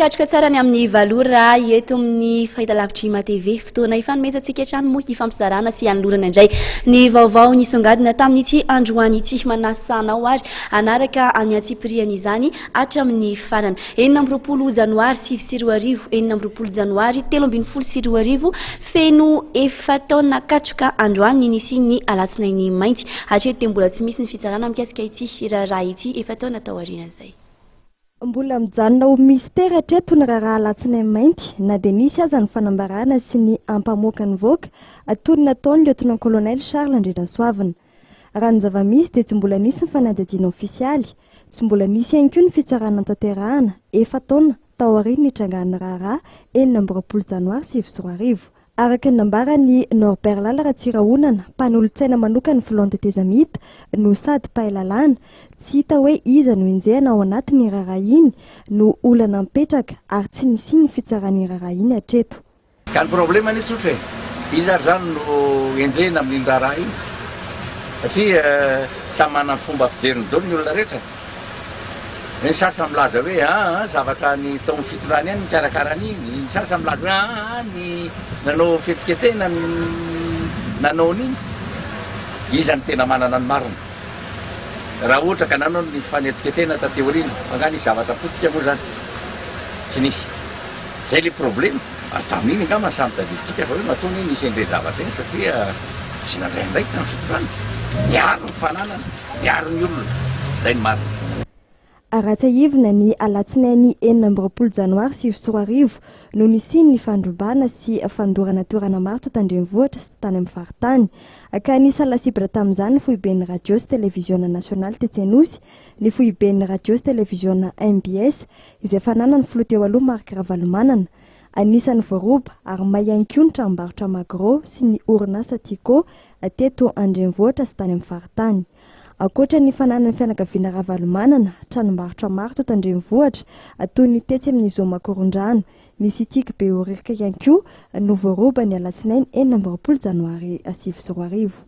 Mikatroka tsara ny amin'ny valora eto amin'ny fahitalavitry MATV. Fotoana ifanomezantsika hatrany moa hifampizarana sy hanolorana indray ny vaovao nisongadina tamin'ity androany ity. Manasa anao ary hanaraka any antsipiriany izany. hatramin'ny farany. Enina amby roapolo janoary sivy sy roa arivo, enina amby roapolo janoary telo ambin'ny folo sy roa arivo, feno efa-taona katroka androany ny nisian'ny Alatsinainy mainty. Hatreto dia mbola tsy misy ny fitsarana mikasika ity raharaha ity efa-taona tao aoriana izay. Mbola mijanona ho mystera hatreto ny raharaha Alatsinainy mainty, na dia nisy aza ny fanambarana sy ny ampamoakan'ny vaoaka, toy ny nataon'ny Lieutenant-colonel Charles Andrianasoavina. Raha ny zava-misy dia tsy mbola nisy ny fanadihadiana ofisialy, tsy mbola nisy ihany koa ny fitsarana notanterahana, efa-taona, taorian'ny nitrangan'ny raharaha, enina amby roapolo janoary sivy sy roa arivo. Araka ny nambaran'i Norbert Lala Ratsirahonana, mpanolotsaina manokan'ny filohan'ny tetezamita, no sady mpahay lalàna, tsy hita hoe iza no enjehina ao anatin'iny raharaha iny no olana mipetraka ary tsy nisian'ny fitsarana iny raharaha iny hatreto. Ka ny problème anie tsotra e, iza ary zany no enjehina amin'iny raharaha iny? Satria samy manana ny fomba fijeriny dolo ny olona rehetra. Ny sasany milaza hoe aa zavatra any tao amin'ny fitondrana ihany nikarakara an'iny, ny sasany milaza hoe aa ny nanao fihetsiketsehina no nanao an'iny. Iza no tena manana ny marina? Raha ohatra ka nanao ny fifanetsiketsehina taty aoriana, fa nga nisy zavatra potika moa zany? Tsy nisy. Zay le problema, ary tamin'iny angamba samy tadidintsika fa hoe matoa anie nisy an'ireny zavatra ireny satria tsy nandray andraikitra ny fitondrana. Miaro ny fananana, miaro ny olona. Zay ny marina. Aratsiahivina, ny alatsinainy enina amby roapolo janoary sivy sy roa arivo no nisian'ny fandrobana sy fandorana toerana maro tao Tandrenivohitra sy tany amin'ny faritany, ka nisy la cible tamin'izany ny foiben'ny radio sy televiziona nasionaly tetsy Anosy, ny foiben'ny radio sy televiziona mbs izay fananan'ny filoha teo aloha Marc Ravalomanana. Anisan'ny voaroba ary may ihany koa ny tranombarotra Magro sy ny orinasa Tiko teto an-drenivohitra sy tany amin'ny faritany. Ankoatra ny fananan'ny fianakaviana Ravalomanana tranombarotra maro teto an-drenivohitra toy ny tetsy amin'ny Zoo Makorondrano, ny Citic Behoririka ihany koa no voaroba ny alatsinainy enina amby roapolo janoary sivy sy roa arivo.